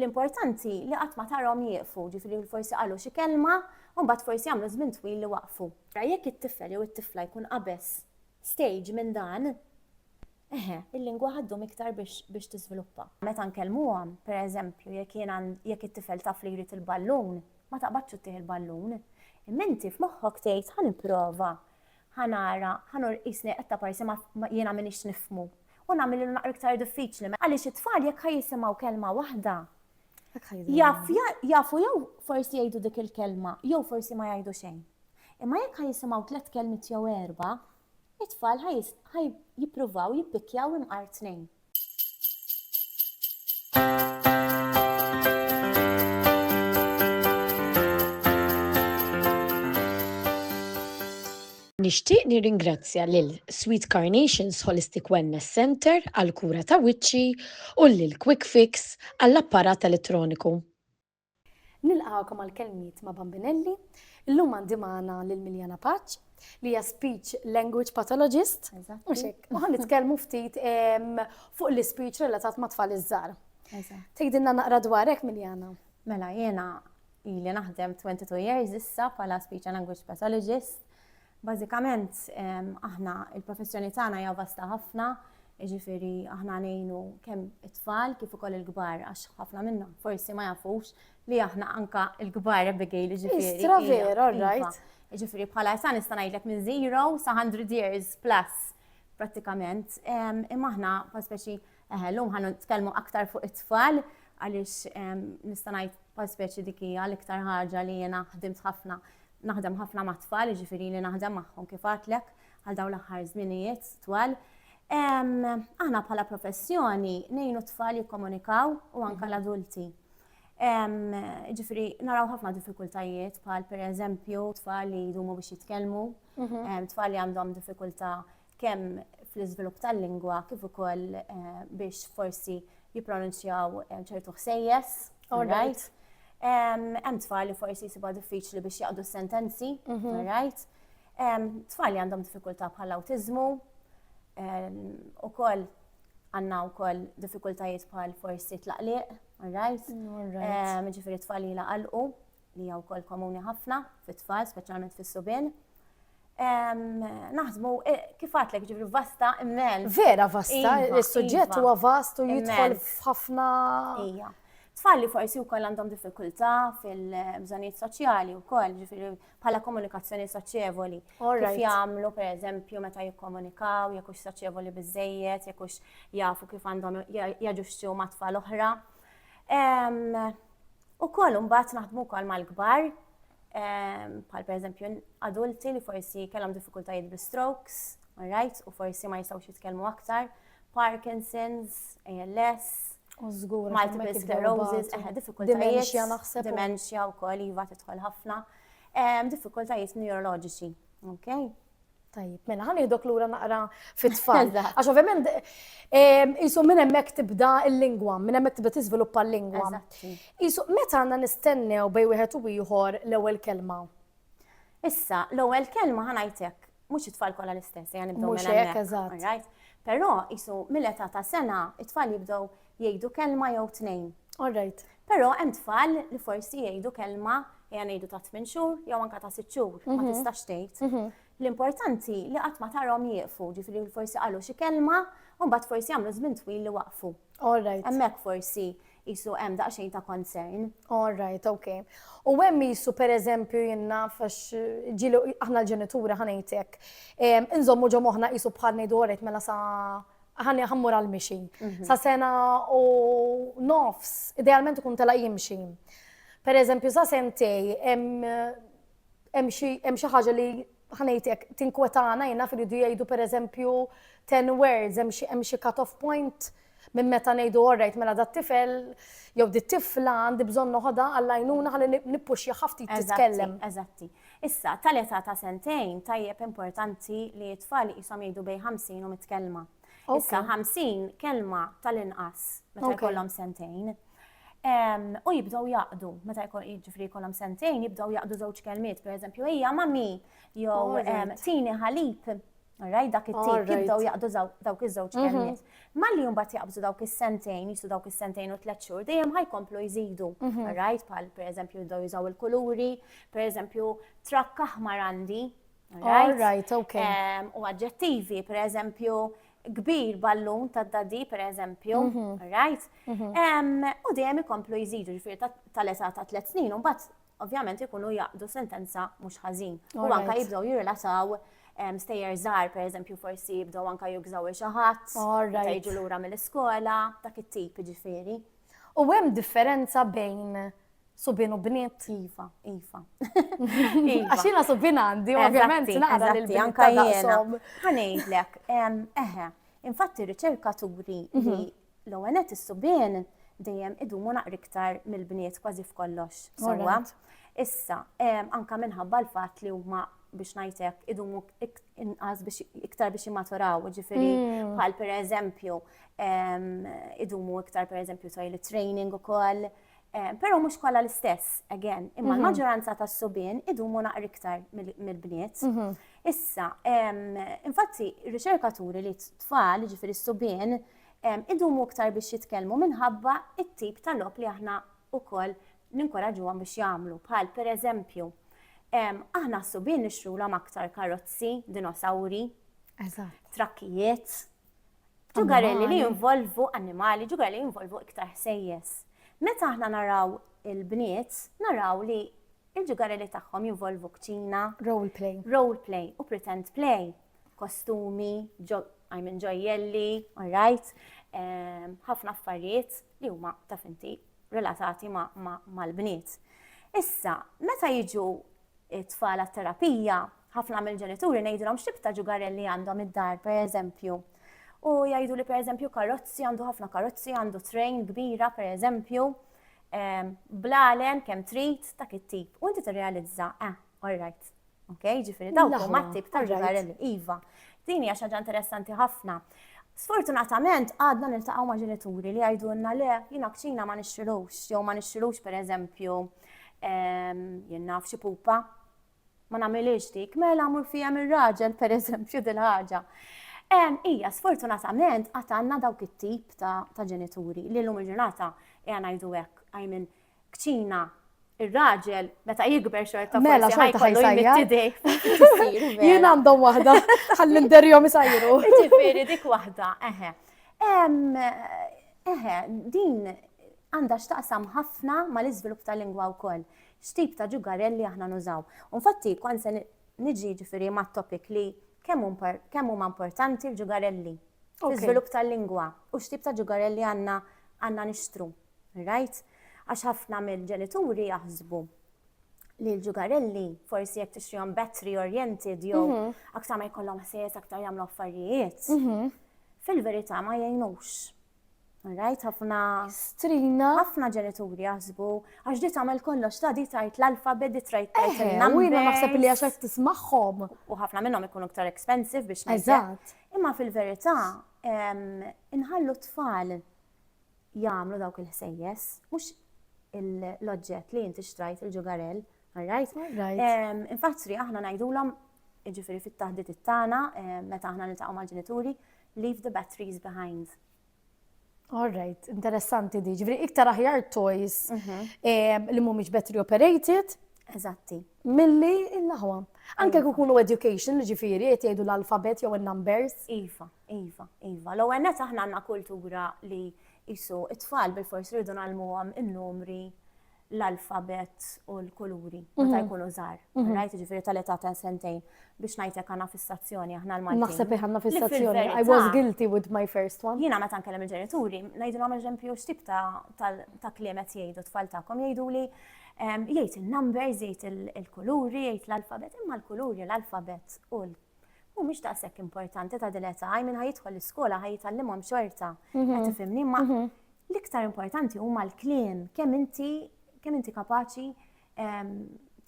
L-importanti li qatt ma tarahom jieqfu, ġifieri forsi qalu xi kelma u mbagħad forsi għamlu żmien twil li waqfu. Ara jekk it-tifel jew it-tifla jkun qabeż stage minn dan, eħe, il-lingwa ħa ddum iktar biex tiżviluppa. Meta nkellmuhom, per eżempju, jekk jien jekk it-tifel taf li jrid il-ballun, ma taqbadx u ttih il-ballun, imma inti f'moħħok tgħid ħa nipprova Ħa nara, ħa nur qisni qed taparsi ma jiena m'iniex nifhmu. U nagħmillu naqra iktar diffiċli, għaliex it-tfal jekk ħa jisimgħu kelma waħda, jaf jafu jew forsi jgħidu dik il-kelma jew forsi ma jgħidu xejn. Imma jekk ħa jisimgħu tliet kelmiet jew erba', it-tfal ħa jippruvaw jippikkjaw imqar tnejn. Nixtieq nirringrazzja lil Sweet Carnations Holistic Wellness Centre għall-kura ta' wiċċi u lil Quick Fix għall-apparat elettroniku. Nilqgħukom għall-kelmiet ma' Bambinelli. Illum għandi magħna lil Miljana Paċ li hija speech language pathologist. Mhux hekk. U nitkellmu ftit fuq l-ispeech relatat ma' tfal iż-żgħar. Tgħidilna naqra dwarek Miljana. Mela jiena ili naħdem 22 years issa bħala speech and language pathologist. Bażikament aħna l-professjoni tagħna hija vasta ħafna, jiġifieri aħna ngħinu kemm it-tfal kif ukoll il-kbar għax ħafna minna forsi ma jafux li aħna anka l-kbar Abigail jiġifieri. Istra vera, iva. right. Jiġifieri bħala sa nista' ngħidlek minn zero sa 100 years plus prattikament. Imma aħna pa speċi Eħe, llum ħa nitkellmu aktar fuq it-tfal għaliex nista' ngħid bħal speċi dik hija l-iktar ħaġa li jiena ħdimt ħafna naħdem ħafna ma' tfal, jiġifieri li naħdem magħhom kif għatlek għal dawn l-aħħar żminijiet twal. Aħna bħala professjoni nejnu tfal jikkomunikaw u anka mhm. l-adulti. Ġifri, naraw ħafna diffikultajiet bħal per eżempju tfal li jdumu biex jitkellmu, mhm. tfal li għandhom diffikulta kemm fl-iżvilupp tal-lingwa kif ukoll biex forsi jippronunzjaw ċertu ħsejjes, right? Hemm tfal li forsi jsibuha diffiċli biex jaqdu sentenzi, mhm. right? Tfal li għandhom diffikultà bħal awtiżmu, ukoll għandna wkoll diffikultajiet bħal forsi tlaqliq, right? Ġifieri tfal li laqalqu li hija wkoll komuni ħafna fit-tfal, speċjalment fis-subien. Naħdmu e, kif għatlek ġifri vasta immel. Vera vasta, iva, il-suġġett iva. huwa vast u jidħol f'ħafna. Ija. Tfal li forsi wkoll għandhom diffikultà fil-bżonijiet soċjali wkoll, ġifri bħala komunikazzjoni soċjevoli. Kif jagħmlu pereżempju meta jikkomunikaw, jekk hux soċjevoli biżejjed, jekk hux jafu kif għandhom jaġuxxu ma' tfal oħra. Ukoll imbagħad naħdmu wkoll mal-kbar, ehm, bħal pereżempju adulti li forsi kellhom diffikultajiet bi strokes, right, u forsi ma jistgħux jitkellmu aktar, Parkinson's, ALS, Użgur, multiple sclerosis, eħe, diffikultajiet. Dementia naħseb. Dementia u koll, jiva titħol ħafna. Ehm, diffikultajiet neurologiċi, ok? Tajjeb, mela, ħan iħdok lura naqra fit-tfal. Għax ovvjament, jisu minn hemmhekk tibda l-lingwa, minn hemmhekk tibda tiżviluppa l-lingwa. Jisu meta għandna nistennew bej wieħed u ieħor l-ewwel kelma. Issa, l-ewwel kelma ħanajtek, mhux it-tfal kollha l-istess, jgħan nibdew minn hemmhekk. Però jisu mill-età ta' sena, it-tfal jibdew Jgħidu kelma jew tnejn. All right. Però hemm tfal li forsi jgħidu kelma ejja ngħidu ta' tmien xhur jew anke ta' sitt xhur ma mhm. tistax tgħid. Mhm. L-importanti li qatt ma tarhom jieqfu, ġifieri forsi qalu xi kelma u mbagħad forsi jagħmlu żmien twil li waqfu. All right. Hemmhekk forsi jisu hemm daqsxejn ta' concern. All right, okay. U hemm jisu per eżempju jenna fax ġilu aħna l-ġenitura ħanejtek. Inżommu ġo moħna jisu bħal nejdu għoret mela sa' ħanni ħammur għal mixi. Mhm. Sa sena u nofs, idealment ikun tela jimxi. Per eżempju, sa sentej, hemm xi ħaġa li ħanejtek tinkwetana jina fil-jidu jgħidu per eżempju 10 words, hemm xi cut-off point minn meta ngħidu orrejt mela dat tifel jew dit tifla għandi bżonn noħodha għall-għajnuna ħalli nippuxja ħafti titkellem. Eżatti. Issa, ta' l-età ta' sentejn, tajjeb importanti li t-tfal iqishom jgħidu bejn 50 u 100 kelma. Issa, 50 kelma ta' l-inqas meta jkollhom sentejn. U jibdew jaqdu, meta jiġifieri jkollhom sentejn, jibdew jaqdu żewġ kelmiet, pereżempju, ejja mami, jew tini ħalib, Raj dak it-tip jibdew jaqdu dawk iż-żewġ mhm. kelmiet. Malli jumbat jaqbżu dawk is-sentejn, jisu dawk is-sentejn u tliet xhur, dejjem ħajkomplu jżidu. Mhm. Rajt bħal pereżempju jibdew jużaw il-kuluri, pereżempju trakk aħmar għandi. Rajt, ok. U aġġettivi, pereżempju kbir ballun ta' dadi, per eżempju, mhm. right? U dejjem ikomplu jżidu ġifir tal-età ta' tliet snin, u mbagħad ovvjament ikunu jaqdu sentenza mhux ħażin. U anka jibdew jirrelataw stejjer żgħar, pereżempju forsi jibdew anka jugżaw il xi ħadd, ta' jiġu lura mill-iskola, dak it-tip ġifieri. U hemm differenza bejn subin u bniet. Iva, iva. iva. Għaxina subin għandi, ovvjament, naqra li l-bniet. Għanejlek, eħe, infatti riċerkaturi li mhm. L-ewwel nett is-subien dejjem idumu naqra iktar mill-bniet kważi f'kollox. Sewwa. Issa, anke minħabba l-fatt li huma biex ngħidlek idumu inqas biex iktar biex jimmaturaw, ġifieri mm. bħal pereżempju idumu iktar pereżempju toilet training ukoll. Però mhux kollha l-istess, again, imma mhm. l-maġġoranza tas-subien idumu naqra iktar mill-bniet. Mhm. Issa, infatti, riċerkaturi li t-tfal, ġifieri s-subien, idumu iktar biex jitkellmu minħabba t-tip ta' logħob li aħna wkoll ninkoraġġuhom biex jagħmlu, bħal pereżempju, aħna s-subien nixtrulhom aktar karozzi, dinosawri, trakkijiet, ġugarelli li jinvolvu annimali, ġugarelli li jinvolvu iktar ħsejjes. Meta aħna naraw il-bniet, naraw li il-ġugarelli tagħhom jinvolvu kċina, role play, role play u pretend play. kostumi, I mean ġojjelli, alright, ehm, ħafna affarijiet li huma ta' finti relatati mal-bniet. Issa, meta jiġu it-tfal terapija ħafna mill-ġenituri ngħidilhom x'tib ta' ġugarelli għandhom id-dar, per eżempju. U jgħidu li per eżempju karozzi għandu ħafna karozzi, għandu train kbira per eżempju, ehm, blalen kemm trit ta' kittib. U inti tirrealizza, eh, all right, Ok, ġifiri daw huma tip ta' ġugarell iva. Din hija xaġa interessanti ħafna. Sfortunatament għadna niltaqgħu ma' ġenituri li jgħidulna le jiena kċina ma nixxilux, jew ma nixxilux pereżempju ehm, jien naf xi pupa. Ma nagħmilix dik, mela mur fihem ir-raġel pereżempju dil-ħaġa. Ehm, ija, sfortunatament għad għandna dawk it-tip ta' ġenituri li l-lum il-ġurnata qiegħna ngħidu hekk, I mean, kċina, ir-raġel meta jikber xorta mela xorta ħajsajja. Jien għandhom waħda, ħalli nderjom isajru. Ġifieri dik waħda, eħe. Eħe, din għandha x'taqsam ħafna mal-iżvilupp tal-lingwa wkoll. X'tip ta' ġugarelli aħna nużaw. Infatti, kon se niġi ġifieri ma' topic li kemm huma importanti l-ġugarelli. L-iżvilupp tal-lingwa u x'tip ta' ġugarelli għandna għandna nixtru. Rajt, għax ħafna mill-ġenituri jaħsbu li l-ġugarelli forsi jekk tixtrihom battery oriented jew mhm. aktar ma jkollhom ħsies aktar jagħmlu affarijiet. Mhm. Fil-verità ma jgħinux. Rajt ħafna strina. Ħafna ġenituri jaħsbu għax di tagħmel kollox ta' di tajt l-alfabet di trajt tajt eh, il-number. Jiena naħseb li għax qed tismagħhom. U ħafna minnhom ikunu iktar expensive biex Eżatt. Imma fil-verità inħallu tfal jagħmlu dawk il-ħsejjes, mhux l-oġġett li inti xtrajt il-ġugarell, rajt? Infattri aħna ngħidulhom ġifieri fit-taħdit it-tana, meta aħna niltaqgħu mal-ġenituri, leave the batteries behind. All right, interessanti di. Ġifri, iktar aħjar toys mhm. li mhumiex battery operated. Eżatti. Milli il-laħwa. Anke kukunu education, ġifiri, jgħidu l-alfabet jew il-numbers. Iva. Iva, iva. L-ewwel nett aħna għandna kultura li qisu t-tfal bilfors rridu ngħallmuhom in-numri, l-alfabett u l-kuluri meta jkunu żgħar. Rajt jiġifieri tal-età ta' sentejn biex ngħidlek għandna fissazzjoni aħna l-Maltin. Naħseb li għandna fissazzjoni. I was guilty with my first one. Jiena meta nkellem il-ġenituri, ngħidilhom eżempju x'tip ta' kliem qed jgħidu t-tfal tagħkom jgħiduli jgħid in-numbers, jgħid il-kuluri, jgħid l-alfabett, imma l-kuluri, l-alfabett u mhumiex daqshekk importanti ta' din età, minn ħa jidħol l-iskola ħa jitgħallimhom xorta. Mhm. Qed tifhimni ma mhm. l-iktar importanti huma l-kliem kemm inti kemm inti kapaċi ehm,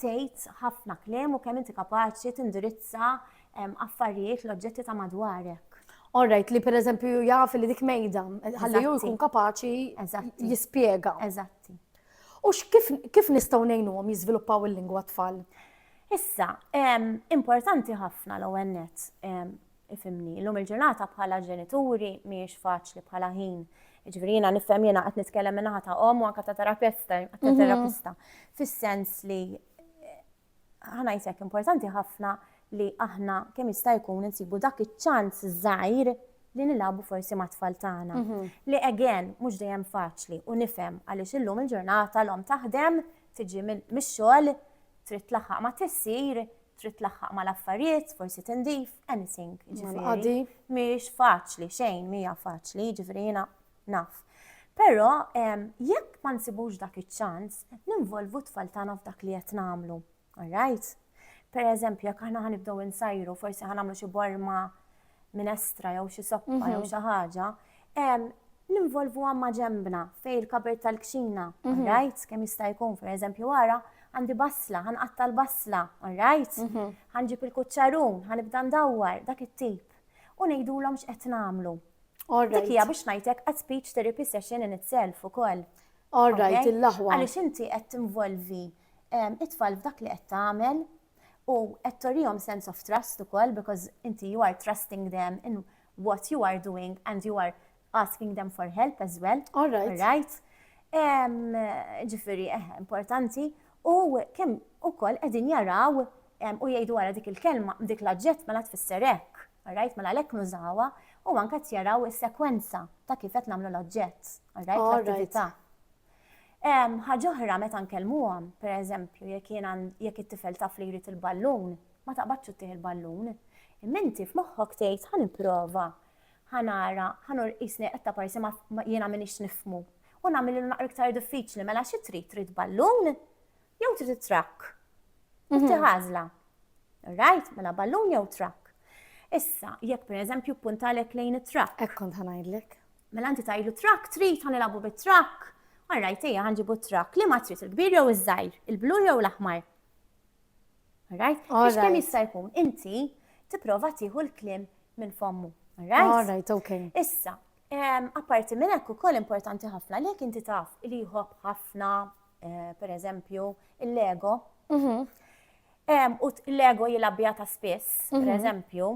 tgħid ħafna kliem u kemm inti kapaċi tindirizza ehm, affarijiet l-oġġetti ta' madwarek. All right, li per eżempju jaf li dik mejda, ħalli ju jkun kapaċi jispjega. Eżatti. U kif nistgħu ngħinuhom jiżviluppaw il-lingwa t-tfal? Issa, importanti ħafna l-ewwel nett, ifhimni, illum il-ġurnata bħala ġenituri mhijiex faċli bħala ħin Ġifieri jiena nifhem jiena qed nitkellem minn naħa ta' omm u anke ta' terapista, ta' mhm. terapista. Fis-sens li Ħa ngħid hekk, importanti ħafna li aħna kemm jista' jkun insibu dak iċ-ċans żgħir li nilagħbu forsi mat-tfal tagħna. Mhm. Li again mhux dejjem faċli u nifhem għaliex illum il-ġurnata l-om taħdem, tiġi mix-xogħol, trid tlaħħaq ma' tissir, trid tlaħħaq ma' l-affarijiet, forsi tindif, anything. Ġifieri mhix faċli xejn, mija faċli, ġifieri jiena Naf. Però, jekk ma nsibux dak iċ-ċans, qed ninvolvu t-tfal tagħna f'dak li qed nagħmlu. All right? Pereżempju, jekk aħna ħa nibdew insajru, forsi ħa nagħmlu xi borma minestra jew xi soppa jew mhm. xi ħaġa, ninvolvu għamma ġembna fej il-kabert tal-kxina, all mhm. right? Kemm jista' jkun, pereżempju, wara, għandi basla, għan għatta l-basla, alright? Mhm. Għanġib il-kuċċarun, għan ibda ndawwar, dak it-tip. U nejdu l-om xqet namlu. Dik hija biex ngħidlek a speech therapy session in itself ukoll. All right, il-laħwa. Għaliex inti qed tinvolvi ehm, it-tfal f'dak li qed tagħmel u qed torihom sense of trust ukoll because inti you are trusting them in what you are doing and you are asking them for help as well. All right. All right. Ehm, ġifiri, eh, importanti. U kemm ukoll qegħdin jaraw ehm, u jgħidu wara dik il-kelma, dik l-aġġett mela tfisser hekk. Alright, mela għalhekk nużawha u anke qed jaraw is-sekwenza ta' kif qed nagħmlu l-oġġett. Alright, l-attività. Ħaġa oħra meta nkellmuhom, pereżempju, jekk jiena jekk it-tifel taf li jrid il-ballun, ma taqbadx ittih il-ballun. Imma inti f'moħħok tgħid ħa nipprova, ħa nara, ħa nur qisni qed parsi ma jiena m'iniex nifhmu. U nagħmel li naqra iktar diffiċli mela xi trid trid ballun jew trid it-trakk. Inti mhm. ħażla. Right? Mela ballun jew trakk. Issa, jekk per eżempju puntalek lejn it-trakk. Ek kont ħanajdlek. Mela inti tajlu trakk, trid ħanilabu bit-trakk. Alright, ejja ħanġibu trakk. Li ma trid il-kbir jew iż-żgħir, il-blu jew l-aħmar. Alright? Biex kemm jista' jkun inti tipprova tieħu l-klim minn fommu. Alright? Alright, okay. Issa, Apparti minn hekk ukoll importanti ħafna li jekk inti taf li jħobb ħafna, eh, per eżempju, il-lego, mhm. u l-lego jilabja ta' spiss, per mhm. eżempju,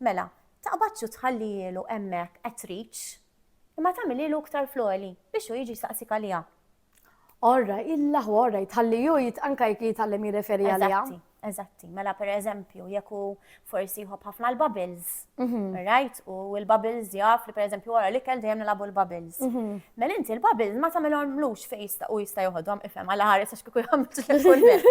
mela, taqbadxu tħallijilu emmek at reach, imma tagħmililu iktar floli biex u jiġi saqsik għalija. Orra, illa hu orra, jitħalli ju anka jek jitgħallem jirreferi għalija. Eżatti, mela per eżempju, jekk hu forsi jħobb ħafna l-bubbles, mhm. right? U l-bubbles jaf li per eżempju wara li kell dejjem nilabu l-bubbles. Mhm. Mela inti l-bubbles ma tagħmilhom lux fejn jista' u jista' joħodhom ifhem għal ħares għax kieku jagħmlu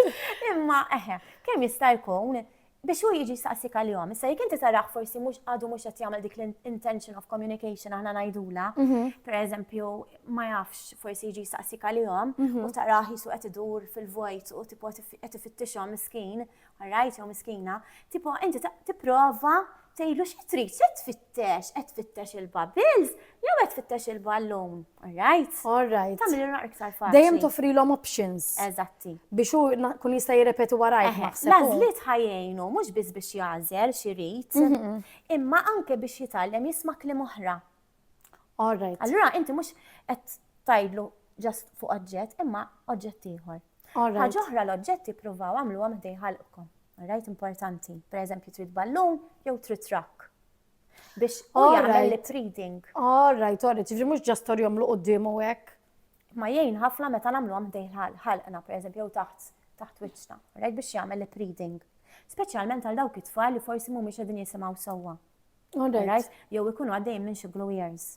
Imma eħe, kemm jista' jkun biex hu jiġi jsaqsik għalihom. Issa jekk inti tarah forsi mhux għadu mhux qed jagħmel dik l-intention of communication aħna ngħidula, mhm. pereżempju ma jafx forsi jiġi jsaqsik għalihom mhm. u tarah jisu qed idur fil-vojt u tipo qed ifittixhom miskin, rajt jew miskina, tipo inti tipprova Tgħidlu xi trid, x'qed tfittex? Qed tfittex il-bubbles jew qed tfittex il-ballun? All right? All right. Tagħmel irra iktar faċli. Dejjem toffrilhom options. Eżatti. Biex hu kun jista' jirrepeti warajk naħseb. L-għażliet ħajjejnu mhux biss biex jagħżel xi jrid, imma anke biex jitgħallem jisma' kliem oħra. All right. Allura inti mhux qed tgħidlu ġast fuq oġġett imma oġġett ieħor. Ħaġa oħra l-oġġetti provaw għamluha meta jħalqkom. Rajt importanti. Per eżempju, trid ballun jew trid trakk. Biex u jagħmel lip reading. All right, all right. Ġifri mhux ġast orjom lu quddiemu hekk. Ma jgħin ħafna meta nagħmluha meta jħalqna, per eżempju, jew taħt taħt wiċċna. Rajt biex jagħmel lip reading. Speċjalment għal dawk it-tfal li forsi mhumiex qegħdin jisimgħu sewwa. Alright. Jew ikunu għaddejjin minn xi glow years.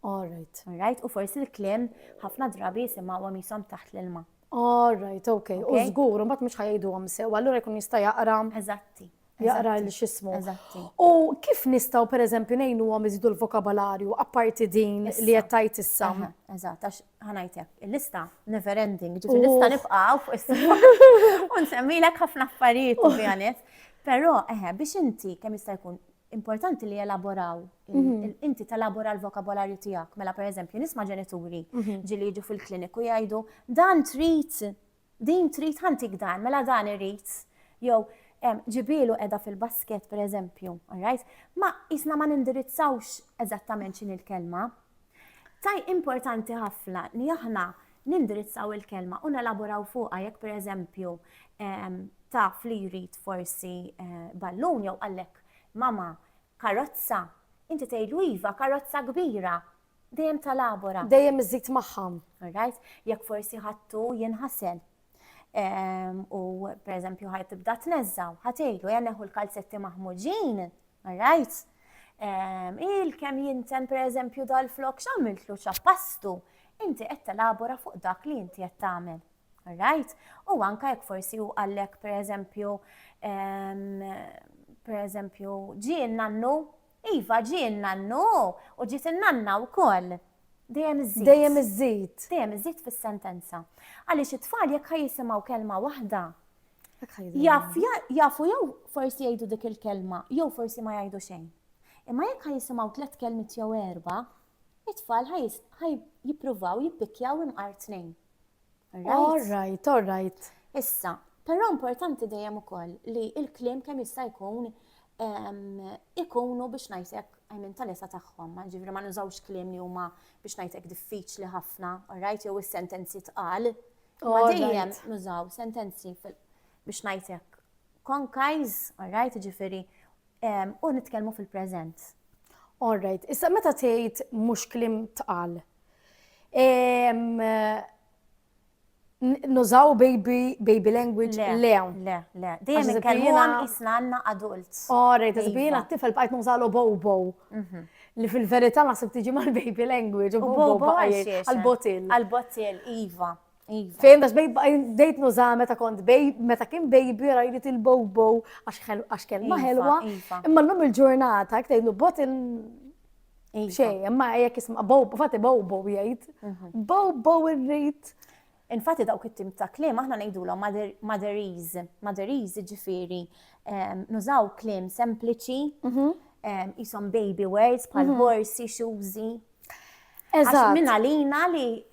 Alright. Alright, u forsi l-klim ħafna drabi jisimgħu għom jisom taħt l-ilma. Alright, ok. U żgur, mbagħad mhux ħajdu għom sew, allura jkun jista' jaqra. Eżatti. Jaqra l xismu. Eżatti. U kif nistgħu pereżempju ngħinu għom iżidu l-vokabolarju apparti din li qed tajt issa? Eżatt, għax ħanajtek, il-lista never ending, ġifi lista nibqgħu fuq is-sema. U nsemmilek ħafna affarijiet u Però, eħe, biex inti kemm jista' jkun importanti li elaboraw, inti telabora l-vokabolarju tiegħek. Mela pereżempju nisma' ġenituri ġieli jiġu fil-kliniku jgħidu dan trid, din trid ħantik dan, mela dan irid. Jew ġibielu qiegħda fil-basket pereżempju, all right? Ma isna ma nindirizzawx eżattament x'inhi l-kelma. Taj importanti ħafna li aħna nindirizzaw il-kelma u nelaboraw fuqha jekk pereżempju taf li jrid forsi ballun jew qallek mama karozza, inti tgħidlu iva karozza kbira, dejjem telabora. Dejjem iżżid magħha. All right? Jekk forsi ħadtu jinħasel u pereżempju ħa tibda tneżża' u ħa tgħidlu ejja neħu l-kalzetti maħmuġin, all right? Il kemm jinten pereżempju dal-flokk x'għamiltlu ċappastu? inti qed telabora fuq dak li inti qed tagħmel. Right? U anka jekk forsi u għallek per eżempju, ehm, per eżempju, ġi nannu, iva ġi nannu, u ġiet nanna u koll. Dejjem iżżid. Dejjem iżżid. Dejjem iżżid fis-sentenza. Għaliex it-tfal jekk ħajjisimgħu kelma waħda, jafu jew forsi jgħidu dik il-kelma, jew forsi ma jgħidu xejn. Imma jekk ħajjisimgħu tliet kelmiet jew erba', It-tfal ħa jippruvaw jippikkjaw imqar tnejn. All right, all right. Issa, però importanti dejjem ukoll li l-kliem kemm jista' jkun ikunu biex ngħidlek għajmin tal-esa tagħhom, ġifri ma nużawx kliem li huma biex ngħidlek diffiċli ħafna, all right, jew is-sentenzi tqal. Ma dejjem nużaw sentenzi biex ngħidlek konkajż, all right, ġifiri U nitkellmu fil-preżent. All right. Issa meta tgħid mhux kliem tqal. Nużaw baby, baby language? Le. Le, le. Dejjem inkellmuhom isna għandna adults. All right, iżbina t-tifel bqajt nużalu bobo. Mhm li fil-verità naħseb tiġi mal-baby language, u bobo għal-botil. Għal-botil, iva. Iva. Fejn għax bdejt nuża meta kont bej, meta kien baby rajrit il-bobo għax kelma iva, ħelwa. Iva. Imma l-lum il-ġurnata, jek tgħidlu bot il- iva. Xej, imma jek isma bobo, fatti bobo jgħid. Mhm. Bobo irrit. Infatti dawk it-tim ta' klim aħna ngħidulhom maderiz, maderiz ġifieri nużaw klim sempliċi, mhm. jisom baby words bħal mhm. horsi, xużi. Eżatt. Minn għalina li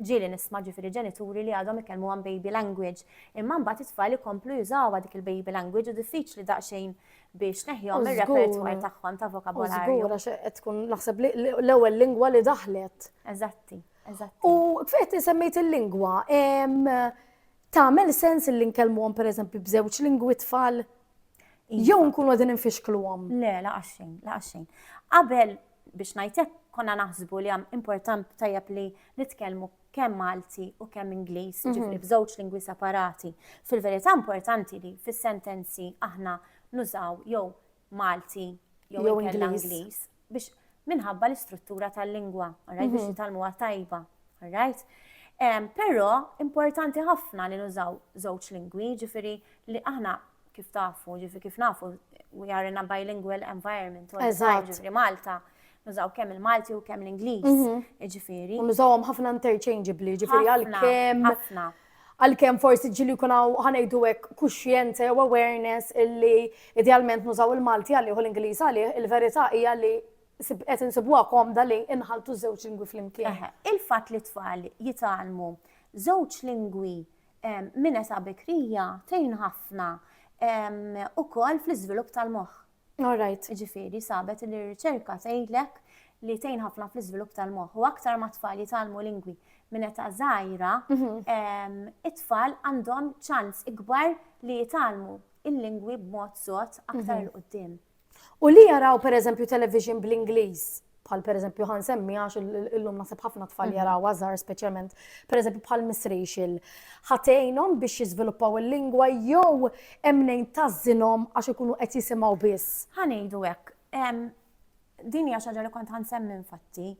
Ġieli nisma' ġifieri ġenituri li għadhom ikellmuhom baby language, imma mbagħad it-tfal ikomplu jużawha dik il-baby language u diffiċli daqsxejn biex tneħħihom mir-repertoire tagħhom ta' vokabolarju. U żgur għax qed tkun naħseb li l-ewwel lingwa li daħlet. Eżatti, eżatti. U fejn insemmejt il-lingwa, tagħmel sens li nkellmuhom pereżempju b'żewġ lingwi t-tfal Iva. Jew nkunu qegħdin infixkluhom. Le, laqas xejn, laqas xejn. Qabel biex ngħidlek konna naħsbu li hemm important tajjeb li nitkellmu kemm Malti u kemm Ingliż, mhm. ġifri f'żewġ lingwi separati. Fil-verità importanti li fis-sentenzi aħna nużaw jew Malti jew Ingliż biex minħabba l-istruttura tal-lingwa, alright, biex jitalmuha tajba, alright. Però importanti ħafna li nużaw żewġ lingwi, ġifiri li aħna kif tafu, ġifiri kif nafu, we are in a bilingual environment, ġifiri Malta, nużaw kemm il-Malti u kemm l-Ingliż, ġifiri. Nużawhom ħafna interchangeably, ġifiri għal kemm. Ħafna, ħafna. għalkemm forsi ġieli jkun hawn, ħa ngħidu hekk, kuxjenza jew awareness illi idealment nużaw il-Malti għalih u l-Ingliż għalih, il-verità hija li qed insibuha komda li nħalltu ż-żewġ lingwi flimkien. Eħe, il-fatt li t-tfal jitgħallmu żewġ lingwi minn età bikrija tgħin ħafna ukoll fl-iżvilupp tal-moħħ. All right. Jiġifieri sabet li r-riċerka tgħidlek li tgħin ħafna fl-iżvilupp tal-moħħ u aktar ma tfal jitgħallmu lingwi minn età żgħira, mhm. it-tfal għandhom ċans ikbar li jitgħallmu il-lingwi b'mod sod aktar mhm. il-qudiem. U li jaraw pereżempju television bl-Ingliż bħal per eżempju ħan semmi għax illum nasib ħafna tfal mhm. jaraw għazar speċjalment per eżempju bħal misrixil ħatejnom biex jiżviluppaw il-lingwa jew emnejn tażinhom għax ikunu qed jisimgħu biss. Ħanejdu hekk. Din hija xaġa li kont ħansemmi infatti.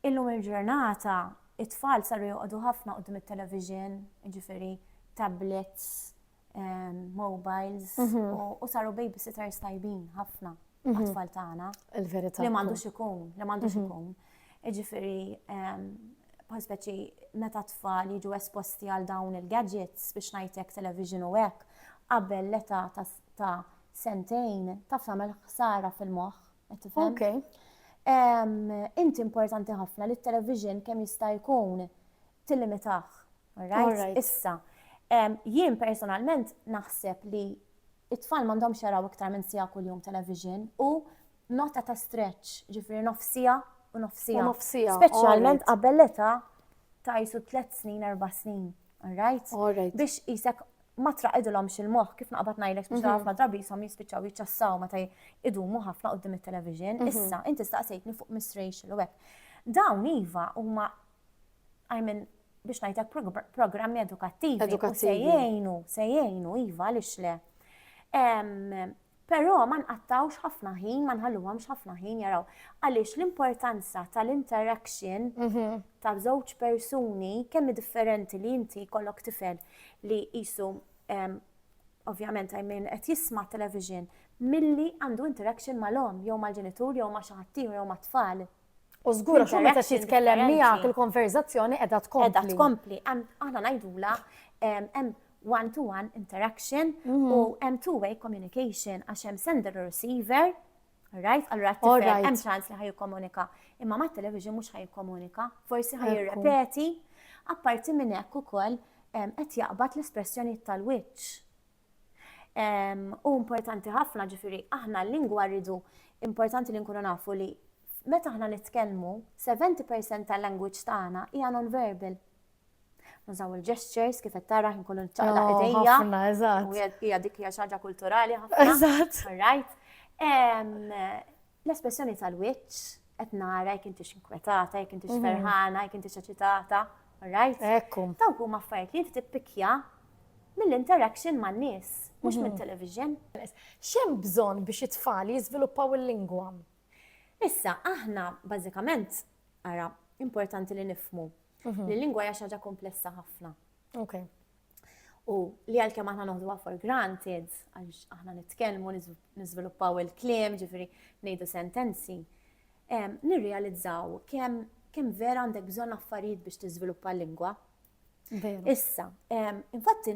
Illum il-ġurnata it-tfal saru joqogħdu ħafna qudiem it-television, jiġifieri tablets, mobiles u saru babysitters tajbin ħafna mhm. għatfall tagħna. Il-verità. Li m'għandux ikun, li m'għandux mhm. ikun. Iġifieri bħal speċi meta tfal jiġu esposti għal dawn il-gadgets biex ngħidlek television u hekk qabel l-età ta' sentejn taf tagħmel ħsara fil-moħħ. Qed tifhem? Okay. Inti importanti ħafna li t-television kemm jista' jkun tillimitaħ. Alright? Issa. Jien personalment naħseb li it-tfal mandom xaraw iktar minn sija kull jum television u nota ta' stretch, ġifiri nofsija u nofsija. Nofsija. Speċjalment qabel l-età ta' jisu 3 snin, 4 snin. Alright? Alright. Biex jisek ma traqidilhomx il-moħħ kif naqbad ngħidlek biex mhm. ħafna drabi jisom jispiċċaw jiċċassaw meta idumu ħafna qudiem it-television. Mhm. Issa inti staqsejtni fuq Miss Rachel u hekk. Dawn iva huma I mean biex ngħidlek programmi edukattivi. Edukattivi. Se jgħinu, se jgħinu iva għaliex le. Però ma nqattgħux ħafna ħin, ma nħalluhomx ħafna ħin jaraw. Għaliex l-importanza tal-interaction mhm. ta' żewġ persuni kemm differenti li inti kollok tifel li jisu ovvjament I mean qed jisma' television milli għandu interaction mal-om jew mal-ġenitur jew ma' xi ħaddieħor jew mat-tfal. U żgur għax meta xi tkellem miegħek il-konverżazzjoni qiegħda tkompli. Qiegħda tkompli, aħna ngħidula hemm one-to-one interaction mm. u hemm two-way communication għax hemm sender u receiver, right? Allura t-tifel hemm ċans li ħajkomunika, imma ma' television mhux ħajkomunika, forsi ħajrepeti, apparti minn hekk ukoll qed jaqbad l-espressjonijiet tal-wiċċ. U importanti ħafna ġifiri, aħna l-lingwa rridu importanti li nkunu nafu li meta aħna nitkellmu, 70% tal-language tagħna hija non-verbal. Nużaw il-gestures kif qed tara nkunu nċaqla oh, idejja. Ħafna, eżatt. U hija dik hija xaġa kulturali ħafna. Eżatt. Right. L-espressjoni tal-wiċċ qed nara jekk intix inkwetata, jekk intix ferħana, jekk intix eċitata, right? Ekku. Dawk huma affarijiet li inti tippikja mill-interaction man nies, mhux minn television. Xem bżonn biex it-tfal jiżviluppaw il-lingwa? Issa, aħna bażikament, ara, importanti li nifmu li l-lingwa hija xi ħaġa komplessa ħafna. Okay. U li għalkemm aħna noħduha for granted, għax aħna nitkellmu, niżviluppaw il-kliem, ġifiri ngħidu sentenzi, nirrealizzaw kemm kem vera għandek bżonn affarijiet biex tiżviluppa l-lingwa. Issa, infatti,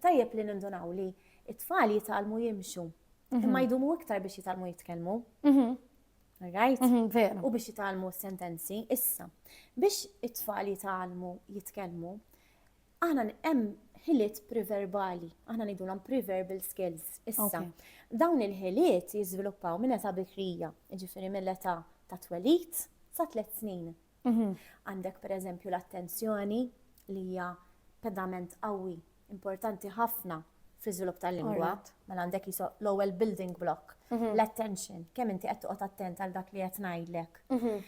tajjeb li nindunaw li it-tfal jitalmu jimxu, mhm. imma jdumu iktar biex jitalmu jitkellmu. Mhm. Right? Mhm, U biex jitalmu sentenzi, issa, biex it-tfal jitalmu jitkellmu, Aħna hemm ħiliet preverbali, aħna ngħidulhom preverbal skills issa. Dawn il-ħiliet jiżviluppaw minn età bikrija, jiġifieri mill-età ta' twelid sa tliet snin. Mhm. Għandek per eżempju l-attenzjoni li hija pedament qawwi, importanti ħafna fl-iżvilupp tal-lingwa, mela għandek jiso l-ewwel building block, mhm. l-attention, kemm inti qed toqgħod attent għal dak li qed ngħidlek. Mhm.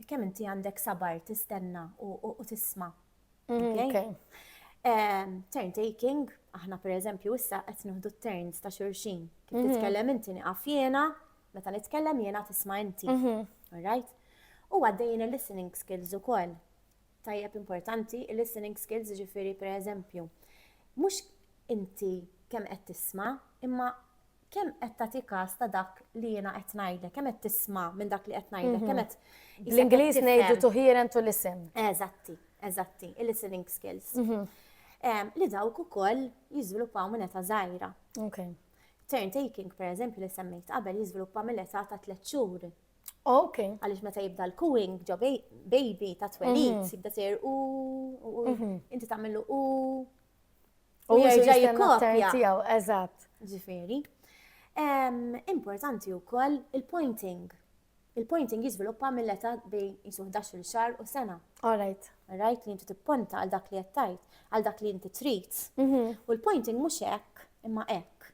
Kemm inti għandek sabar tistenna u tisma'. Mhm, turn taking, aħna per eżempju issa qed nieħdu turns ta' xurxin. Kif titkellem inti niqaf jiena, meta nitkellem jiena tisma' inti. Alright? U għaddejjin il-listening skills ukoll. tajjeb importanti, il-listening skills jiġifieri pereżempju mhux inti kemm qed tisma' imma kemm qed tagħti każ ta' dak li jiena qed ngħidlek, kemm qed tisma' minn dak li qed ngħidlek, kemm qed Bl-Ingliż ngħidu to hear and to listen. Eżatti, eżatti, il-listening skills. Li dawk ukoll jiżviluppaw minn età żgħira. Okay. Turn taking, per eżempju, li semmejt qabel jiżviluppa mill-età ta' tliet xhur Ok. Għaliex meta jibda l-cooing ġo baby ta' twelid, mhm. jibda sejr u mhm. inti tagħmlu u u jerġa' jikkopja. Tiegħu, eżatt. Ġifieri. Importanti wkoll il-pointing. Il-pointing jiżviluppa mill-età bejn jisu 11 xahar u sena. All right. Rajt li inti tipponta għal dak li qed għal dak li inti trid. Mhm. U l-pointing mhux hekk imma hekk.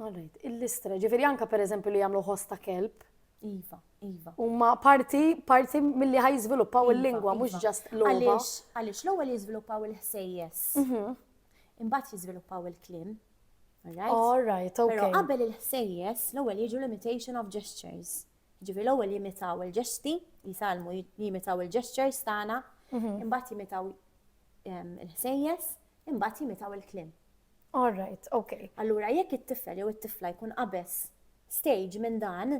All right, il-listra, ġifiri anka per eżempju li jagħmlu ħoss ta' kelb. Iva, iva. Huma parti parti milli ħaj jiżviluppaw Iva, il-lingwa mhux iva. ġast logħba. Għaliex, għaliex l-ewwel jiżviluppaw il-ħsejjes, Mhm. imbagħad jiżviluppaw il-kliem. All right? All right, Però okay. qabel il-ħsejjes, l-ewwel jiġu l-imitation of gestures. Ġifieri l-ewwel jimitaw il-ġesti, jitalmu j- jimitaw il-gestures tagħna, Mhm. imbagħad jimitaw em, il-ħsejjes, imbagħad jimitaw il-kliem. All right, ok. Allura jekk it-tifel jew it-tifla jkun qabeż stage minn dan,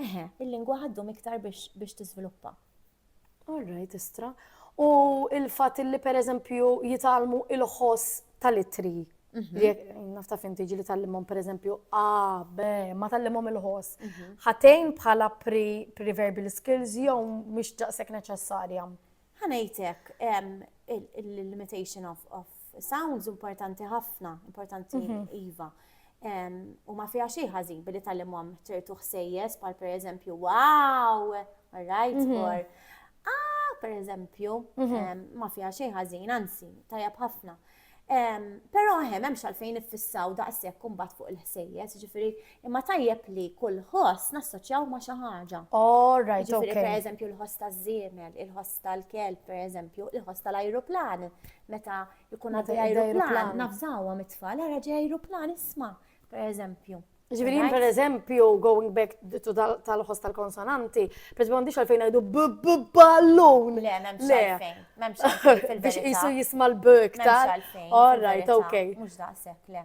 eħe, il-lingwa ħa ddum iktar biex tiżviluppa. All right, istra. U il-fatt li pereżempju jitgħallmu il-ħoss tal-ittri Mhm. Jek, nafta fim tiġi li tal-limon, per eżempju, A, B, ma tal-limon il-ħoss. Mhm. Ħatejn bħala pre-verbal skills jew mux ġaqsek neċessarja. Ħanajtek, il-limitation of Sounds importanti ħafna, importanti iva. U ma fija xej ħażin billi tal-imhom ċertu ħsejjes bħal per eżempju, wow, right, mhm. or ah, per eżempju, mhm. ma fija xej ħażin, anzi, tajab ħafna. Pero hemm hemm xalfejn iffissaw daqshekk kumbat fuq il-ħsejjes, ġifieri Imma tajjeb li kull ħoss nassoċjaw ma' xi ħaġa. All right, Ġifieri okay. pereżempju l-ħoss taż-żiemel, il-ħoss tal-kelb pereżempju, il-ħoss tal-ajruplan. Meta jkun Meta għaddi jgħaddi ajruplan, ajruplan. nafżawhom it-tfal, ara ġej ajruplan isma' pereżempju. Ġifieri jien Right? pereżempju going back to dal- tal-ħoss tal-konsonanti, per m'għandix għalfejn ngħidu b-b-ballun. Le, m'hemmx Le. għalfejn. M'hemmx għalfejn fil-verità. Biex qisu jisma' l-b iktar. M'hemmx għalfejn. All right, fil-verità. okay. Mhux daqshekk, le.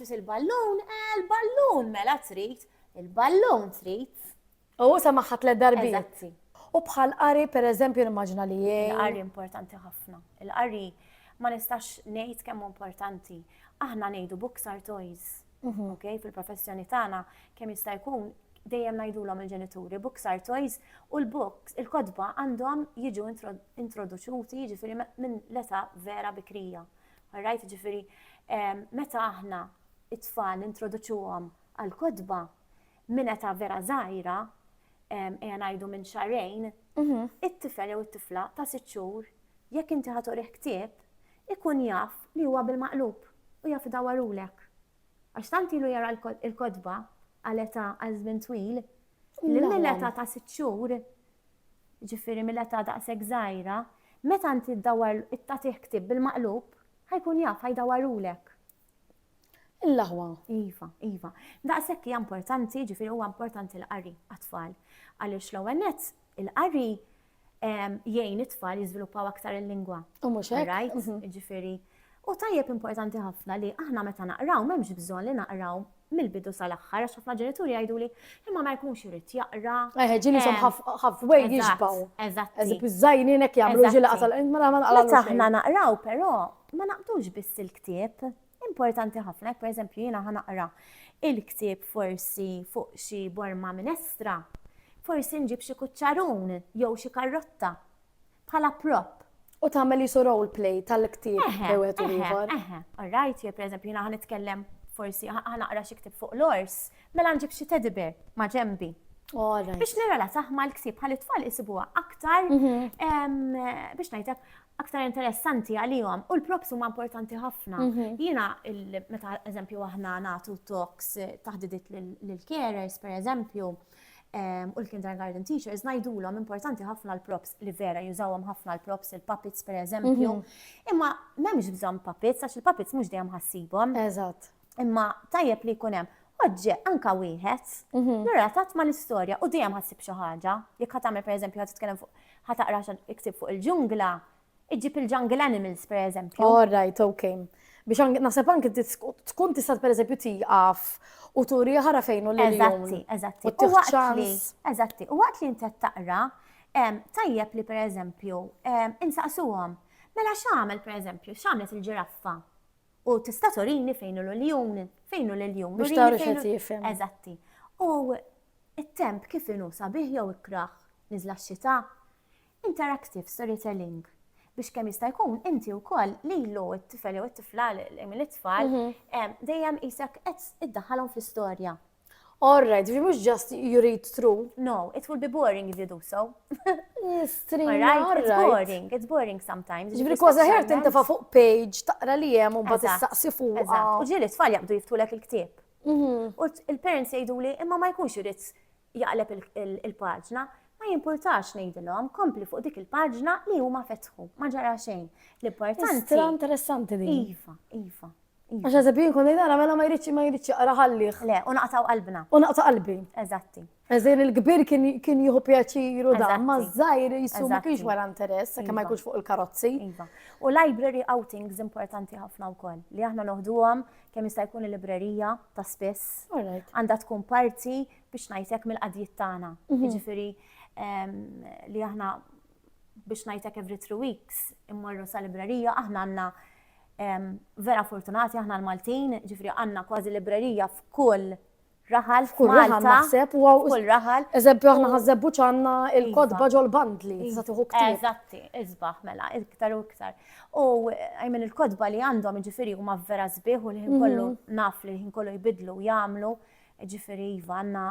Trid il-ballun? Eh, il-ballun mela trid. Il-ballun trid. U sa maħħa tliet darbiet. U bħal qari per eżempju l-immaġna li jgħin. Il-qari importanti ħafna. Il-qari ma nistax ngħid kemm importanti. Aħna ngħidu books are toys. Mhm. Ok, fil-professjoni tagħna kemm jista' jkun dejjem ngħidulhom il-ġenituri books are toys u l-books il-kodba għandhom jiġu introduċuti jiġifieri minn l-età vera bikrija. All right, ġifieri meta aħna it-tfal nintroduċuhom għall-kotba minn età vera żgħira, ejja ngħidu minn xarejn, mhm. it-tifel jew it-tifla ta' sitt xhur jekk inti ħatorih ktieb ikun jaf li huwa bil-maqlub u jaf idawarulek. Għax tant ilu jara l-kotba għal età għal żmien twil, li mill-età ta' sitt xhur, ġifieri mill-età daqshekk żgħira, meta inti ddawwar tagħtih ktieb bil-maqlub, ħajkun jaf, ħajdawwarulek. Il-laħwa. Iva, iva. Daqshekk hija importanti, ġifieri huwa importanti l-qari għat-tfal. Għaliex l-ewwel nett, il-qari jgħin it-tfal jiżviluppaw aktar il-lingwa. U mhux hekk. Mhm. Ġifieri. U tajjeb importanti ħafna li aħna meta naqraw m'hemmx bżonn li naqraw mill-bidu sal-aħħar għax ħafna ġenituri jgħiduli imma ma jkunx irid jaqra. Eħe, ġieli som halfway jixbaw. Eżatt. Eżib iż-żajninek jagħmlu ġieli qasal. Mela aħna naqraw però ma naqbdux biss il-ktieb. Importanti ħafna, jekk pereżempju jiena ħa naqra il-ktieb forsi fuq xi borma minestra, forsi nġib xi kuċċarun jew xi karrotta bħala prop. U tagħmel qisu role play tal-ktieb bejn wieħed u ieħor. Eħe, all right, jew pereżempju jiena ħa nitkellem forsi ħa naqra xi ktieb fuq l-ors, mela nġib xi teddy bear ma' ġembi. Biex nirrelataħ mal-ktieb ħalli t-tfal isibuha aktar mhm. biex ngħidlek aktar interessanti għalihom u l-props huma importanti ħafna. Mhm. Jiena meta eżempju aħna nagħtu talks eh, taħdidit lil carers per eżempju ehm, u l-kindergarten teachers ngħidulhom importanti ħafna l-props li vera jużawhom ħafna l-props il-puppets per eżempju. Mhm. Imma m'hemmx bżonn puppets għax il-puppets mhux dejjem ħassibhom. Eżatt. Imma tajjeb li jkun hemm oġġe anka wieħed, mhm. relatat ma l-istorja u dejjem ħassib xi ħaġa. Jekk ħadd tagħmel pereżempju ħadd titkellem fuq ħataqra iktib fuq il-ġungla, iġib il-jungle animals pereżempju. All right, okay. Biex naħseb anke tkun tista' pereżempju tieqaf u turi ħara fejn u l Eżatti, eżatti. U waqt li, eżatti, u waqt li inti taqra, tajjeb li pereżempju insaqsuhom. Mela x'għamel pereżempju, x'għamlet il-ġiraffa? U tista' turini fejn hu l-uljun, fejn hu l-uljun. Biex tara x'qed jifhem. Eżatti. U it-temp kif inhu sabiħ jew ikrah, niżla x-xita? Interactive storytelling biex kemm jista' jkun inti wkoll lilu t-tifel jew it-tifla, l-itfal, mhm. dejjem qisek qed iddaħħalhom fl-istorja. All right, ġifieri mhux just you read through. No, it will be boring if you do so. Mistrina, All right, it's right. boring, it's boring sometimes. Ġifieri kważi ħer Sometimes- tintefa' fuq page, taqra li hemm u mbagħad Eżatt, issaqsi fuqha. Eżatt. U ġieli tfal jaqbdu jiftulek il-ktieb. Mhm. U t- il-parents jgħidu li imma ma jkunx irid jaqleb il- il- il-paġna. Ma jimpurtax ngħidilhom, kompli fuq dik il-paġna li huma fetħu. Ma ġara xejn. L-importanti. Istra interessanti din. Iva, iva. Iva. Għax għazab jien konna jnara, mela ma jridx ma jridx jaqra ħallih. Le, u naqtaw qalbna. U naqtaw qalbi. Eżatti. Eżin il-kbir kien jieħu pjaċiru da, ma zzajr jissu ma kienx wara interess, sakke ma iva. jkunx fuq il-karozzi. Iva. U library outings importanti ħafna u koll, li aħna noħduhom kemm jista' jkun il-librerija ta' spiss. Għandha tkun parti biex ngħidlek mill-qadjiet tagħna. Mhm. Jiġifieri ehm, li aħna biex ngħidlek every three weeks immorru sa librerija, aħna għandna vera fortunati aħna l-Maltin, ġifri għandna kważi librerija f'kull raħal f'kull raħal naħseb u f'kull raħal. Eżempju aħna ħażebbu ċanna il-kodba iva. ġol bandli, iżda tieħu ktar. Eżatti, iżbaħ mela, iktar u iktar. U għajmen il-kodba li għandhom ġifiri huma vera sbieħ u li ħin kollu mhm. naf li ħin kollu jbidlu jagħmlu, ġifiri iva għandna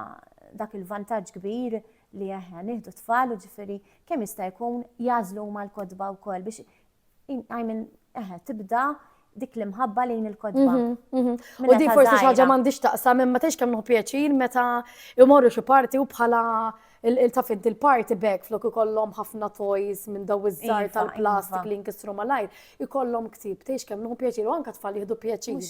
dak il-vantaġġ kbir li aħna nieħdu tfal u ġifiri kemm jista' jkun jażlu huma l-kodba wkoll biex għajmin eħe tibda dik l-imħabba lejn il-kodba. Mhm, mhm. U di forsi xaġa m'għandix taqsam imma tgħix kemm pjaċir meta jmorru xi parti u bħala il-tafint il-party bag flok ikollhom ħafna toys minn daw iż-żar iva, tal-plastik iva. li nkissru malajr. ikollhom ktieb, tgħix kemm nħu pjaċir u anke tfal jieħdu pjaċir.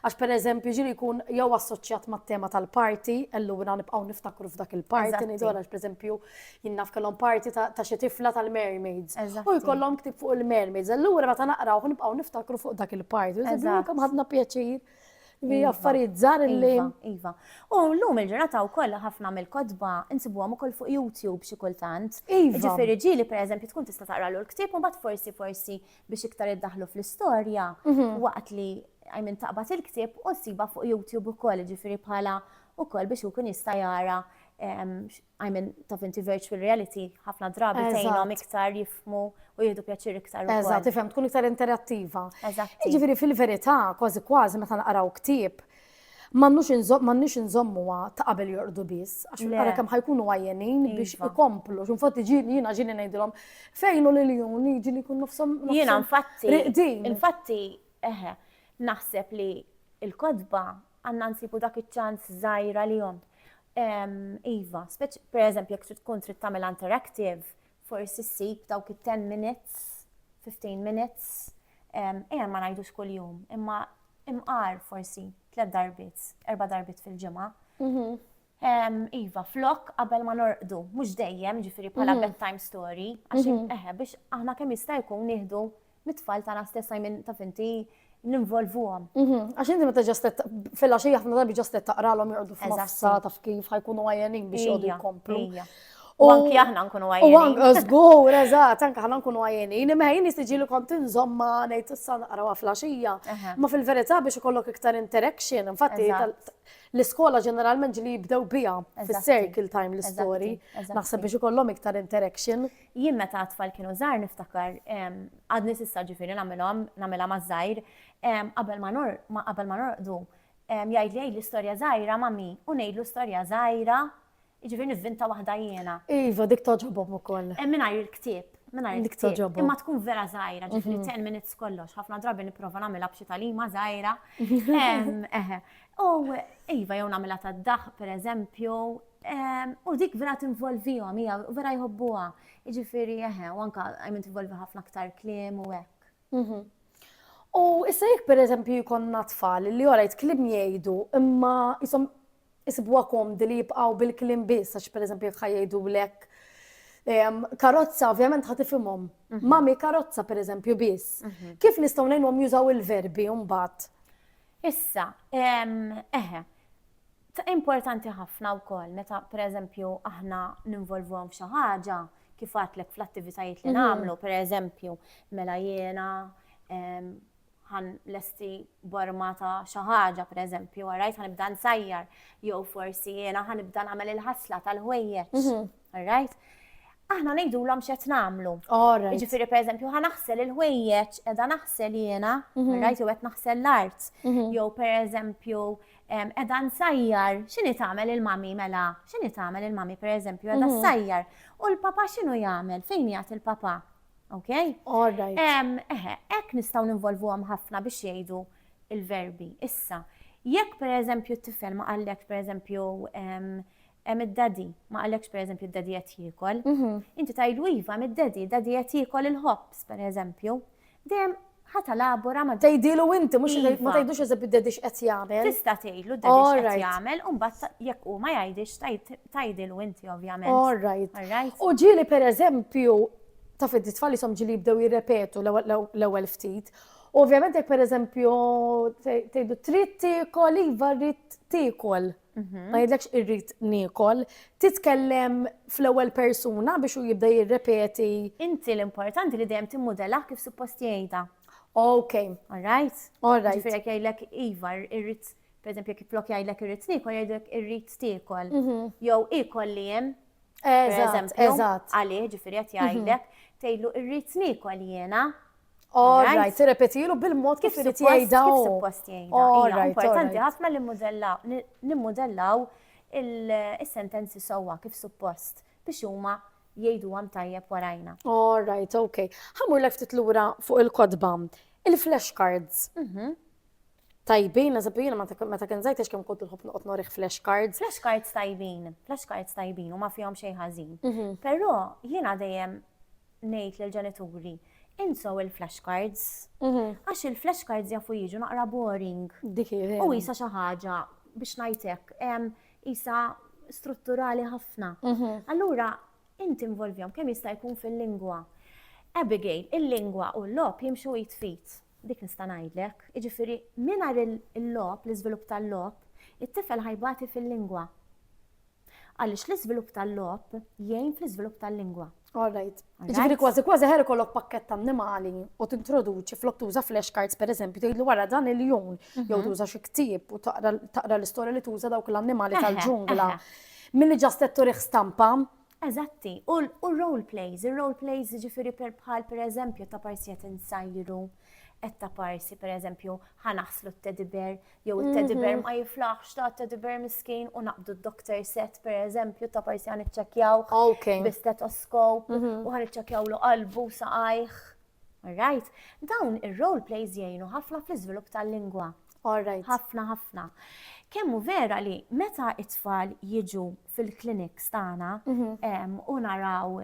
Għax pereżempju ġiri jkun jew assoċjat mat-tema tal-parti, allura nibqgħu niftakru f'dak il-parti ngħidu għax pereżempju jien naf kellhom parti ta' xi tifla tal-mermaids. U jkollhom ktieb fuq il-mermaids, allura meta naqrawh nibqgħu niftakru fuq dak il-parti. Eżatt. Kemm ħadna pjaċir. Li iva, affarijiet żgħar li. Iva, iva. U llum il-ġurnata wkoll ħafna mill-kotba insibuhom ukoll fuq YouTube xi kultant. Iva. Ġifieri ġieli pereżempju tkun tista' taqralu l-ktieb u mbagħad forsi forsi biex iktar iddaħlu fl-istorja mhm. waqt li għajmin taqbad il-ktieb u ssiba fuq YouTube ukoll ġifieri bħala ukoll biex ikun jista' jara I mean, taf inti virtual reality ħafna drabi tgħinhom iktar jifmu u jieħdu pjaċir iktar. Eżatt, tifhem tkun iktar interattiva. Eżatt. Jiġifieri fil-verità, kważi kważi meta naqraw ktieb, m'għandniex inżommuha ta' qabel jorqdu biss, għax nara kemm ħajkunu għajjenin biex iva. ikomplu. X'infatti ġieli jiena ġieli ngħidilhom fejn u lil jun jiġi li jkun nofshom. Jiena infatti. Infatti, eħe, naħseb li il-kodba Għandna nsibu dak iċ-ċans żgħir għalihom. Iva, speċ pereżempju jekk trid tkun trid tagħmilha interactive, forsi ssib dawk it-10 minutes, 15 minutes, ejja ma ngħidux kuljum, imma imqar forsi tliet darbiet, erba' darbiet fil-ġimgħa. Mhm. Iva, flok qabel ma norqdu, mhux dejjem, jiġifieri bħala mhm. bedtime story, għax mhm. eħe biex aħna kemm jista' jkun nieħdu mit-tfal tagħna stess minn taf inti ninvolvuhom. Mhm. Għax inti meta ġastet fil-għaxija ħafna drabi ġastet taqralhom jorqdu f'massa taf kif ħajkunu għajenin biex jgħodu jkomplu. U anki aħna nkunu għajjenin. U anki, zgur, eżat, anki aħna nkunu għajjenin. Imma jien nistiġi li kont nżomma nejt s-san għarawa flasġija. Ma fil-verita biex ikollok iktar interaction, infatti, L-iskola ġeneralment ġili jibdew biha fis-circle time l-istorji. Naħseb biex ikollhom iktar interaction. Jien meta t-tfal kienu żgħar niftakar, għadni s'issa ġifieri nagħmilhom, nagħmilha maż-żgħir, qabel ma qabel ma norqdu, jgħidli għidli storja żgħira mommy u ngħidlu storja żgħira Jiġifieri nivvinta waħda jiena. Iva, dik togħġobhom ukoll. Eh, mingħajr il-ktieb. Mingħajr il-ktieb. Imma tkun vera żgħira, ġifieri mhm. ten minutes kollox. Ħafna drabi nipprova nagħmilha b'xi talima żgħira. U iva jew nagħmilha tad-daħ pereżempju, u dik vera tinvolvihom hija vera jħobbuha. Jiġifieri eħe, u anke għajmin tinvolvi ħafna aktar kliem u hekk. Mhm. U issa jekk pereżempju jkollna tfal li orajt kliem jgħidu imma jisom isibuha komdi li jibqgħu bil-kliem biss għax pereżempju jekk ħajjgħidu lek karozza ovvjament ħad ifhimhom. Mhm. Mami karozza pereżempju biss. Mhm. Kif nistgħu ngħinhom jużaw il-verbi mbagħad? Issa, eħe, Ta' importanti ħafna wkoll meta pereżempju aħna ninvolvuhom f'xi ħaġa, kif għadtlek fl-attivitajiet li nagħmlu, pereżempju, mela jiena ħan lesti borma ta' xi ħaġa, pereżempju, għarajt ħanibda nsajjar, jew forsi jiena ħanibda nagħmel il-ħasla tal-ħwejjeġ, għarajt? aħna nejdu l xet namlu. Ġifiri, per eżempju, ħa naħsel il-ħwejjeċ, edha naħsel jena, mhm. rajt u għet naħsel l-art. Mhm. Jow, per eżempju, Qiegħda nsajjar, x'inhi tagħmel il-mummy mela? X'inhi tagħmel il-mummy pereżempju qiegħda ssajjar? U l-papa x'inhu jagħmel? Fejn jgħat il-papa? Ok? All right. Eħe, hekk nistgħu ninvolvuhom ħafna biex jgħidu il-verbi. Issa, jekk pereżempju t-tifel ma qallek pereżempju Hemm id-daddy, ma qalekx pereżempju d-daddy qed jiekol. Inti tgħidlu iva hemm id-daddy, id-daddy qed jiekol il-ħobż pereżempju. Dejjem ħa talabora ma' Tgħidilu inti, mhux ma Iva. tgħidlux eżempju d-daddy x'qed jagħmel. Tista' tgħidlu d-daddy All x'qed right. jagħmel u mbagħad ta- jekk hu ma jgħidx tgħid tgħidilu inti ovvjament. All right. All right? U ġieli pereżempju, taf inti t-tfal ishom ġieli jibdew jirrepetu l-ewwel- l-ew- l-ewwel ftit. U ovvjament jekk pereżempju tgħid- tgħidlu trid tiekol, iva rrid tiekol. Mhm. ma jidlekx irrit nikol, titkellem fl-ewwel persuna biex u jibda jirrepeti. Inti l-importanti li dejjem timmudella kif suppost jgħidha. Ok. Alright? Alright. Ġifieri jekk jgħidlek iva irrit, pereżempju jekk flok jgħidlek irrit nikol jgħidlek irrit tiekol. Mhm. Jew ikol li hemm. Eżatt, eżatt. Għalih ġifieri qed mhm. jgħidlek tgħidlu irrit nikol jiena. All right, tirrepetilu bil-mod kif irid jgħidha. Kif suppost jgħidha. Hija importanti ħafna li nimmudellaw il-sentenzi sewwa kif suppost biex huma jgħidu għam tajjeb warajna. All right, ok. Ħamur lek ftit lura fuq il-kodba. Il-flashcards. Mhm. Tajbin, eżempju, jena meta kien zajt kemm kont nħobb noqgħod norih flashcards. Flashcards tajbin, flashcards tajbin u ma fihom xejn ħażin. Mhm. Però jiena dejjem ngħid lill-ġenituri, insew il-flashcards. Għax il-flashcards jafu jiġu naqra boring. Dik hi vera. U isa xi ħaġa biex ngħid hekk, em, isa strutturali ħafna. Allura, inti involvjom kemm jista' jkun fil-lingwa. Abigail, il-lingwa u l-logħob jimxu id fit. Dik nista' ngħidlek. Jiġifieri, mingħajr il-logħob, l-iżvilupp tal-logħob, it-tifel ħajbati fil-lingwa. Għaliex l-iżvilupp tal-logħob jgħin fl-iżvilupp tal-lingwa. All right. Ġifieri kważi kważi ħer ikollok pakkett annimali u tintroduċi flok tuża flashcards pereżempju tgħidlu wara dan il-jum mhm. jew tuża xi ktieb u taqra l-istorja li tuża dawk l-annimali tal-ġungla. Milli ġast qed turih stampa Eżatti, u r-role plays, ir-role plays jiġifieri bħal pereżempju ta' parsi qed insajru, qed ta' parsi pereżempju ħa naħslu t-teddy bear, jew it-teddy bear mhm. ma jiflaħx ta' teddy bear miskin u naqbdu d-doctor set pereżempju ta' parsi ħan iċċekjaw bi stetoskop mhm. u ħan iċċekjaw lu qalbu saqajh. Alright, dawn ir-role plays jgħinu ħafna fl-iżvilupp tal-lingwa. Alright. Ħafna ħafna. Kemmu vera li meta it-tfal jiġu fil-kliniks tagħna u naraw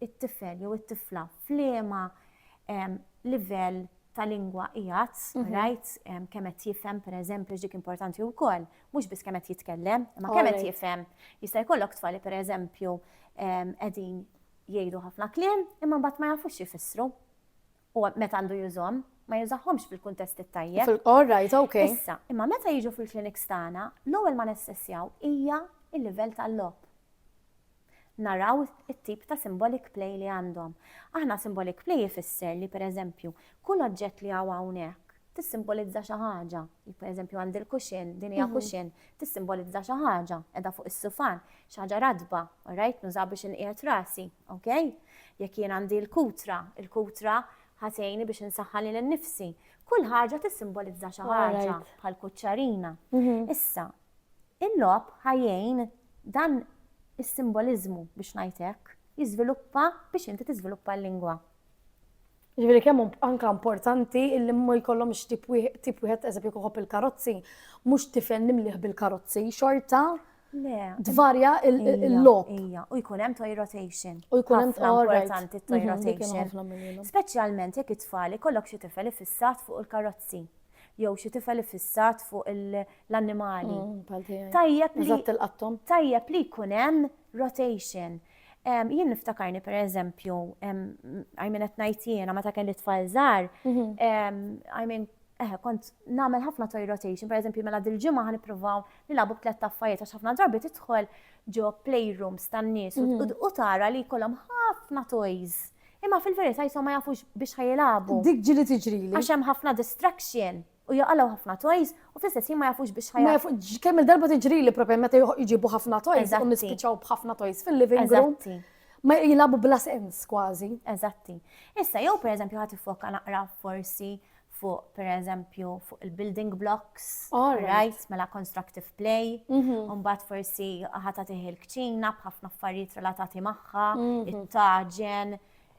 it-tifel jew it-tifla f'liema livell ta' lingwa qiegħed, mhm. right, kemm qed jifhem pereżempju dik importanti wkoll, mhux biss kemm qed jitkellem, imma kemm qed jifhem. Jista' jkollok tfali pereżempju qegħdin jgħidu ħafna kliem, imma mbagħad ma jafux jifissru. Huwa meta għandu jużhom, ma jużahomx fil-kuntest it-tajjeb. All right, ok. Issa, imma meta jiġu fil-kliniks tagħna, l-ewwel ma nessessjaw hija l-livell tal-logħob. Naraw it-tip ta' symbolic play li għandhom. Aħna symbolic play ifisser li pereżempju, kull oġġett li hawn hawnhekk tissimbolizza xi ħaġa. Jekk pereżempju għandi l-kuxin, din hija kuxin, tissimbolizza xi ħaġa, qiegħda fuq is-sufan, xi ħaġa ratba, all right, nużaha biex inqiegħed rasi. Ok? Jekk jien għandi l-kutra, il-kutra ħatejni biex insaħħa lil nnifsi. Kull ħaġa tissimbolizza xi ħaġa bħal kuċċarina. Mhm. Issa, il-lob ħajjejn dan is-simboliżmu biex ngħidlek jiżviluppa biex inti tiżviluppa l-lingwa. Jiġifieri kemm hu anke importanti li ma jkollhomx tip tip wieħed eżempju kieku il-karozzi, mhux tifel nimlieh bil-karozzi, xorta tvarja l-logħob. Ija, u jkun hemm toy rotation. U jkun hemm importanti toy mhm, rotation. Speċjalment jekk it-tfal ikollok xi tifel ifissat fuq il-karozzi jew xi tifel ifissat fuq l-annimali. Mm, Tajjeb li tajjeb li jkun hemm rotation Jien niftakarni per eżempju, għajmin qed ngħid jiena meta kelli tfal żgħar, għajmin mhm. eħe kont nagħmel ħafna toy rotation, per eżempju mela dil-ġimgħa ħan nippruvaw nilagħbu b'tlett affarijiet għax ħafna drabi tidħol ġo playrooms tan-nies u mhm. tara li jkollhom ħafna toys. Imma fil-verità jisom ma jafux biex ħajilagħbu. Dik ġili tiġri. Għax hemm ħafna distraction. u jaqalgħu ħafna toys u fl-istess ħin ma jafux biex ħa Ma kemm il-darba tiġrili propja meta jġibu ħafna toys u nispiċċaw b'ħafna toys fil-living room. Ma jilagħbu bla sens kważi. Eżatti. Issa jew pereżempju ħadd ifoka naqra forsi fuq per eżempju fuq il-building blocks, right, mela constructive play, mhm. unbat forsi ħata tiħi l-kċina bħafna affarijiet relatati maħħa, mhm. it-taġen,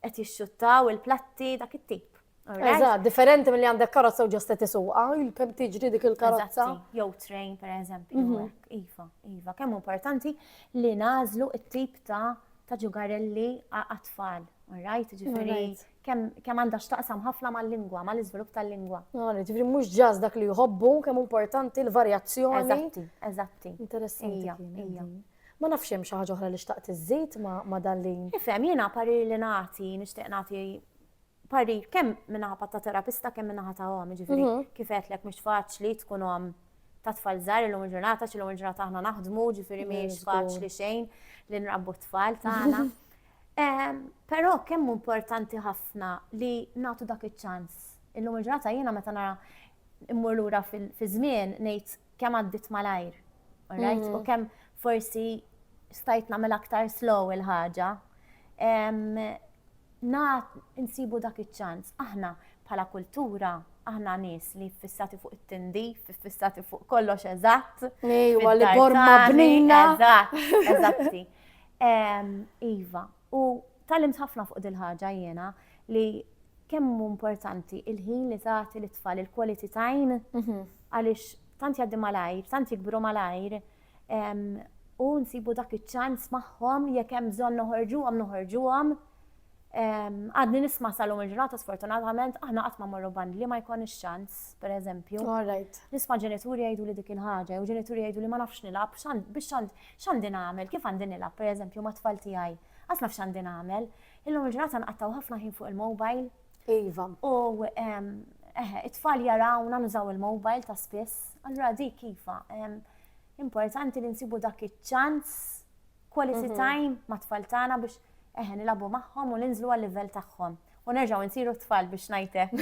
qed jixxuttaw il-platti dak it-tip. Eżatt, differenti mill-li għandek karozza u ġosta tisuqa, il-kem tiġri dik il-karozza. Jew train, per eżempju, mhm. iva, iva, kemm importanti li nażlu it-tip ta' ta' ġugarelli għat-tfal, right? Ġifiri, kemm għandha xtaqsam ħafna mal-lingwa, mal-iżvilupp tal-lingwa. Ġifiri, mhux ġaż dak li jħobbu, kemm importanti l-varjazzjoni. Eżatti, eżatti. Interessanti. Ma nafx hemm xi ħaġa oħra li xtaqt iżżid ma' dan li. Ifhem, jiena parir li nagħti, nixtieq nagħti parir kemm minnaħa ta' terapista kemm minnaħa ta' għom, ġifiri, mhm. kif għetlek mhux faċli tkun għom ta' tfal żgħar illum il-ġurnata, x'illum il-ġurnata aħna naħdmu, ġifiri mhm, mhix faċli xejn li nrabbu t-tfal tagħna. Ehm, però kemm importanti ħafna li nagħtu dak iċ-ċans. Illum il-ġurnata jiena meta nara immur lura fi żmien ngħid kemm għaddit malajr, alright? U kemm forsi stajt nagħmel aktar slow il-ħaġa. Na insibu dak iċ-ċans, aħna bħala kultura, aħna nies li fissati fuq it-tindi, fissati fuq kollox eżatt. Ejwa li borma bnina. Eżatt, eżatti. Iva, U tgħallimt ħafna fuq dil-ħaġa jiena li kemm hu importanti il-ħin li tagħti lit-tfal, il-quality time, għaliex tant jgħaddi malajr, tant jikbru malajr, u nsibu dak iċ-ċans magħhom jekk hemm bżonn noħorġuhom noħorġuhom. Għadni nisma salum il-ġurnata sfortunatament aħna qatt ma morru band li ma jkun ix-ċans, pereżempju. Nisma' ġenituri jgħidu li dik il-ħaġa, jew ġenituri jgħidu li ma nafx nilgħab, biex tant X'għandi nagħmel? Kif għandi nilgħab, pereżempju, mat-tfal tiegħi? Qatt naf x'għandi nagħmel. Illum il-ġurnata nqattgħu ħafna ħin fuq il-mobile. Iva. U, eħe, it-tfal jarawna nużaw il-mobile ta' spiss. Allura dik iva, importanti li nsibu dak iċ-ċans, quality time mat-tfal tagħna biex, eħe, nilagħbu magħhom u ninżlu għal-livell tagħhom. U nerġgħu nsiru t-tfal biex ngħid hekk.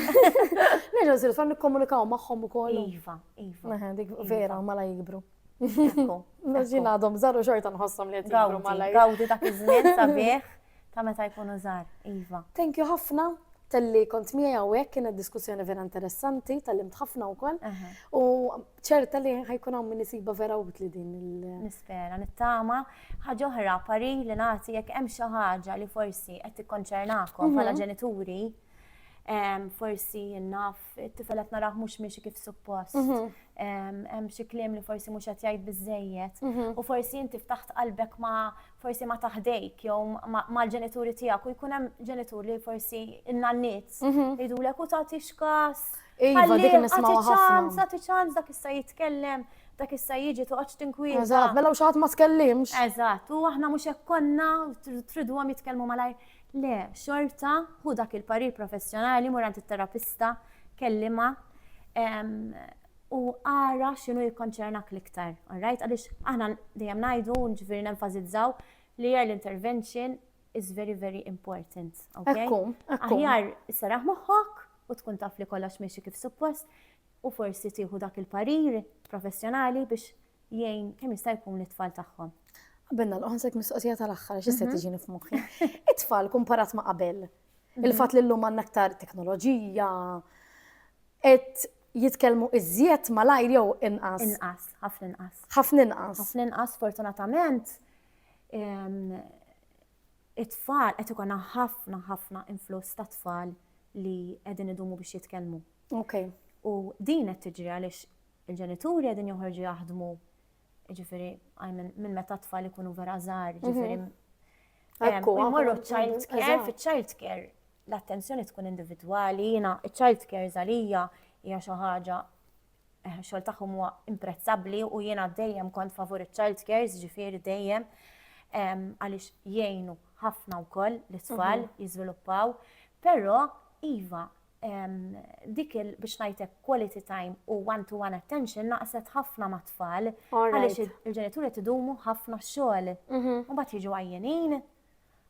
Nerġgħu nsiru t-tfal nikkomunikaw magħhom ukoll. Iva, iva. Eħe, dik vera mala jikbru. Ekku. Naġin għadhom żaru xorta nħossom li jtibru malaj. Gawdi dak iż-żmien sabiħ ta' meta jkunu żar, Iva. Thank you ħafna tal-li kont miegħi hawnhekk kienet diskussjoni vera interessanti, tal-lim tħafna wkoll. U ċerta li ħajkun hawn min isiba vera utli din il- Nispera, nittama. Ħaġa oħra, pari li nagħti jekk hemm xi ħaġa li forsi qed tikkonċernakom mhm. bħala ġenituri, forsi naf it-tifel qed narah mhux miexi kif suppost. Mhm. Hemm xi kliem li forsi mhux qed jgħid biżejjed mhm. u forsi inti ftaħt qalbek ma forsi ma taħdejk jew mal-ġenituri tiegħek u jkun hemm ġenitur li forsi innanniet mhm. jgħidulek u tagħti x'kas. Iva, dik nismaw ħafna. Tagħti ċans dak issa jitkellem dak issa jiġi toqgħodx tinkwieta. Eżatt, mela u xaħat ma tkellimx. Eżatt, u aħna mhux hekk konna tridu għam jitkellmu malajr. Le, xorta ħu dak il-parir professjonali, mur għand it-terapista, kellimha, u ara x'inhu jikkonċernak l-iktar, all right? Għaliex aħna dejjem ngħidu, ġifieri nenfasizzaw li early intervention is very very important, okay? Ekku, ekku. Aħjar saraħ moħħok u tkun taf li kollox miexi kif suppost u forsi tieħu dak il-parir professjonali biex jgħin kemm jista' jkun lit-tfal tagħhom. Qabel nagħlqu ħansek mistoqsija tal-aħħar għax issa mhm. tiġini f'moħħi. It-tfal kumparat ma' qabel. Mhm. Il-fatt li llum għandna aktar teknoloġija qed jitkellmu iżjed malajr jew inqas. Inqas, ħafna inqas. Ħafna inqas. Ħafna inqas fortunatament it-tfal qed ikun ħafna ħafna influss ta' tfal li qegħdin idumu biex jitkellmu. Ok. U din qed tiġri għaliex il-ġenituri qegħdin joħorġu jaħdmu ġifieri minn meta tfal ikunu vera żgħar, mhm. ġifieri Morru child care, fi child care l-attenzjoni tkun individwali, jina child care zalija hija xi ħaġa eh, xogħol tagħhom huwa imprezzabbli u jiena dejjem kont favur child care, ġifieri dejjem għaliex jgħinu ħafna wkoll l-itfal mhm. jiżviluppaw, però iva dik il biex ngħidlek quality time u one-to-one attention naqset ħafna mat-tfal għaliex il-ġenituri qed idumu ħafna xogħol. Mhm. U mbagħad jiġu għajjenin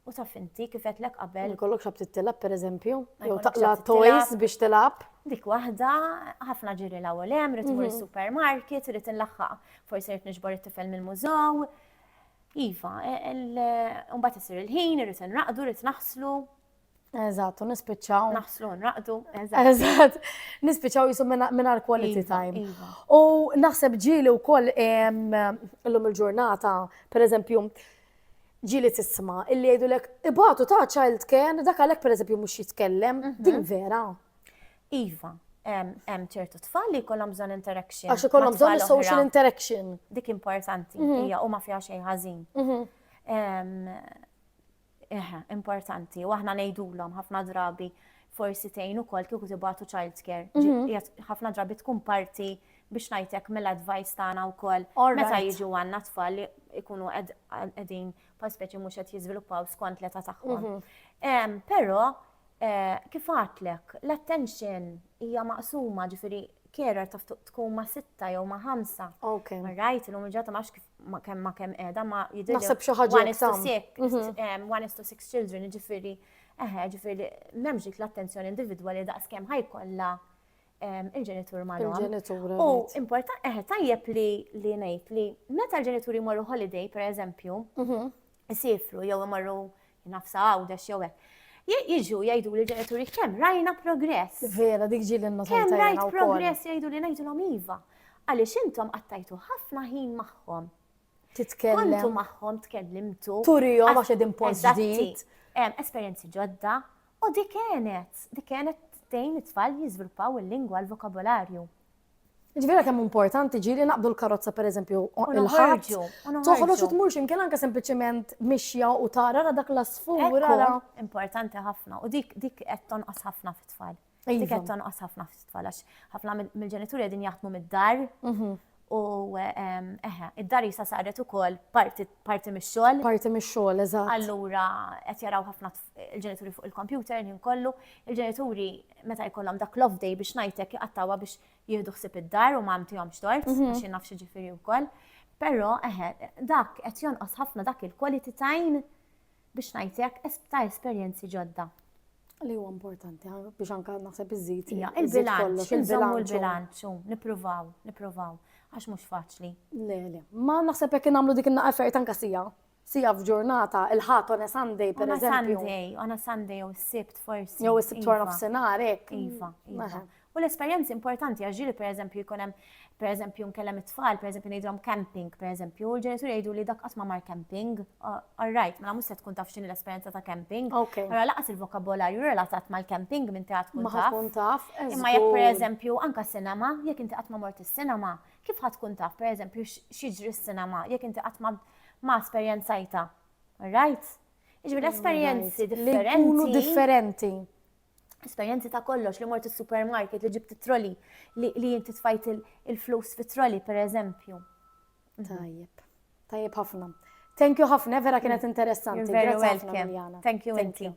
u taf inti kif qedlek qabel. Kollok xab titilab pereżempju, jew taqla toys biex tilab. Dik waħda ħafna ġiri l ewwel hemm, rid imur mhm. supermarket, rid inlaħħaq, forsi rid niġbor it-tifel mill-mużew. Iva, e, e, mbagħad isir il-ħin, irid inraqdu, irid naħslu, Eżatt, u nispiċċaw. Naħslu nraqdu, eżatt. Eżatt, nispiċċaw jisum minna l-quality iva, time. Iva. U naħseb ġili u koll l-lum il-ġurnata, per eżempju, ġili tisma illi jgħidu lek, ibatu ta' child care, dak għalek per eżempju mux jitkellem, mhm. din vera. Iva, hemm ċertu tfal li jkollhom bżonn interaction. Għax ikollhom bżonn social interaction. Dik importanti, mhm. hija u ma fiha xejn ħażin. Mhm. Eh, importanti, u aħna ngħidulhom ħafna drabi forsi tgħin ukoll kieku tibatu child care. Mhm. Ħafna drabi tkun parti biex ngħidlek mill-advice tagħna wkoll. Meta jiġu għandna tfal li jkunu qegħdin pa speċi mhux qed jiżviluppaw skont l-età tagħhom. Mhm. Però eh, kif għatlek, l-attention hija maqsuma ġifieri carer taf tkun ma' sitta jew ma' ħamsa. Ok. Rajt, l-lum ġata ma' kif ma kemm ma kemm qiegħda ma jidher. Naħseb xi ħaġa one is to six, mhm. one is to six children, ġifieri eħe, ġifieri m'hemmx dik l-attenzjoni individwali daqs kemm ħajkollha il-ġenitur ma' Il-ġenitur. U importa, eħe, tajjeb li li ngħid li meta l-ġenituri jmorru holiday, per eżempju, mhm. isifru jew imorru nafsa Għawdex jew hekk. Jiġu jgħidu li ġenituri kemm rajna progress. Vera, dik ġieli n Kemm rajt progress jgħidu li ngħidulhom iva. Għaliex intom qattajtu ħafna ħin magħhom. Titkellem. Kontu magħhom tkellimtu. Turijom għax qegħdin post ġdid. Esperjenzi ġodda. U dik kienet, dik kienet tejn it-tfal jiżviluppaw il-lingwa l-vokabolarju. Ġvira kemm importanti ġi li naqbdu l-karozza per eżempju il-ħarġ. Toħroġ u tmur ximkien anke sempliċement mixja u tara ra dak l-asfur. Ra importanti ħafna u dik dik qed tonqos ħafna fit-tfal. Dik qed tonqos ħafna fit-tfal għax ħafna mill-ġenituri qegħdin jaħdmu mid-dar. Mhm. U ehm, eħe, id-dar jisa saret ukoll parti mix-xogħol. Parti mix-xogħol, eżatt. Allura qed jaraw ħafna il-ġenituri fuq il-kompjuter l-ħin kollu, il-ġenituri meta jkollhom dak l-off day biex ngħidlek jqattawha biex jieħdu ħsib id-dar u ma għamtihomx tort, mhm. għax naf xi ġifieri wkoll. Però eħe, dak qed jonqos ħafna dak il-quality time biex ngħidlek ta' esperjenzi ġodda. Li huwa importanti biex anka naħseb iżid. Ja, il-bilanċ, il-żommu l-bilanċ, nippruvaw, nippruvaw, għax mhux faċli. Le, le. Ma naħseb jekk nagħmlu dik in-naqfer tanka sija. Siegħa f'ġurnata, il-Ħadd on a Sunday per eżempju. On a Sunday, on a Sunday jew is-Sibt forsi. Jew is-Sibt wara iva. nofsinhar hekk. Iva, iva. U l-esperjenzi importanti għax ġieli pereżempju jkun hemm pereżempju nkellem it-tfal, pereżempju ngħidhom camping, pereżempju, u l-ġenituri jgħidu li dak qatt ma mar camping. All right, mela mhux se tkun taf x'inhi l-esperjenza ta' camping. Allora laqas il-vokabolarju relatat mal-camping minn tagħha tkun taf. Imma jekk pereżempju anka sinema, jekk inti qatt ma mort is-sinema, Kif ħadd tkun taf, pereżempju, x'jiġri s-sinema jekk inti qatt ma esperjenzajta? Right? Jiġri esperjenzi differenti. differenti. Esperjenzi ta' kollox li mort is-supermarket li ġibt it-troli li jinti tfajt il-flus fit-troli, pereżempju. Tajjeb. Tajjeb ħafna. Thank you ħafna, vera kienet interessanti. You're very Grazzi ħafna, welcome. Miljana. Thank you, Thank inti.